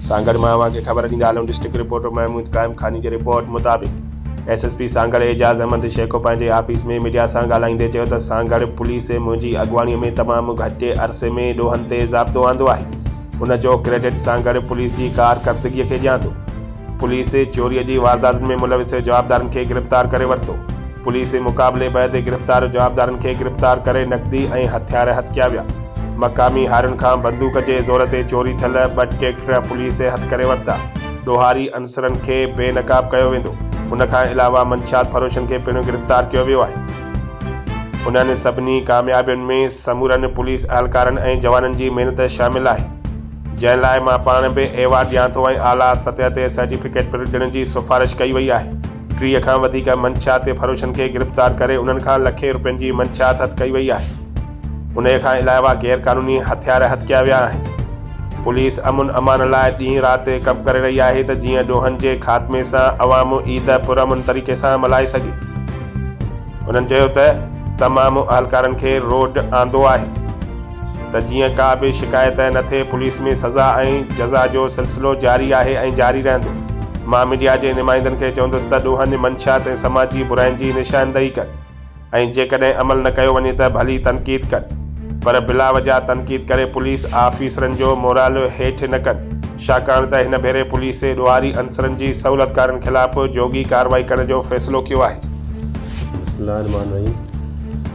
سانگهڙ مان اوهان کي خبر ڏيندا هلون ڊسٽرڪٽ رپورٽر محمود قائم خاني جي رپورٽ مطابق S S P Sanghar Ijaz Ahmed Shaikh پنهنجي آفيس ۾ ميڊيا سان ڳالهائيندي چيو ته سانگهڙ پوليس منهنجي اڳواڻي ۾ تمام گهٽ عرصي ۾ ڏوهن تي ضابطو آندو آهي ان جو ڪريڊٽ سانگهڙ پوليس جي ڪارڪردگي کي ڏيان ٿو پوليس چوري جي وارداتن ۾ ملوث جوابدارن کي گرفتار ڪري ورتو. پوليس مقابلي بعد گرفتار جوابدارن کي گرفتار ڪري نقدي ۽ هٿيار هٿ ڪيا ويا. مقامي هارين کان بندوق جي زور تي چوري ٿيل ٻه ٽريڪٽر پوليس هٿ ڪري ورتا. ڏوهاري عنصرن کي بي نقاب ڪيو ويندو. ان کان علاوه منشيات فروشن کي پڻ گرفتار ڪيو ويو آهي. انهن سڀني ڪاميابين ۾ سمورن پوليس اهلڪارن ۽ جوانن جي محنت شامل آهي. جنهن لاء مان پاڻ به ايوارڊ ڏيان ٿو ۽ اعليٰ سطح تي سرٽيفڪيٽ پڻ ڏيڻ جي سفارش ڪئي وئي آهي. ٽيهه کان وڌيڪ منشياتي فروشن کي گرفتار ڪري انهن کان لکين روپين جي منشيات هٿ ڪئي وئي آهي. انهيء کان علاوه غير قانوني هٿيار هٿ ڪيا ويا آهن. پوليس امن امان لاء ڏينهن رات ڪم ڪري رهي آهي ته جيئن ڏوهن جي خاتمي سان عوام عيد پرامن طريقي سان ملهائي سگهي. هنن چيو ته تمام اهلڪارن کي روڊ آندو آهي. ته جيئن ڪا به شڪايت نه ٿئي، پوليس ۾ سزا ۽ جزا جو سلسلو جاري آهي ۽ جاري رهندو. مان ميڊيا جي نمائندن کي چوندس ته ڏوهن، منشيات ۽ سماجي براين جي نشاندهي ڪن ۽ جيڪڏهن عمل نه ڪيو وڃي ته ڀلي تنقيد ڪن پر بلا وجهه تنقيد ڪري پوليس آفيسرن جو مورال هيٺ نه ڪن شاڪاڻ ته هن ڀيري پوليسي ڏوهاري عنصرن جي سهولتڪارن خلاف جوڳي ڪارروائي ڪرڻ جو فيصلو ڪيو آهي. بسم الله الرحمٰن الرحيم.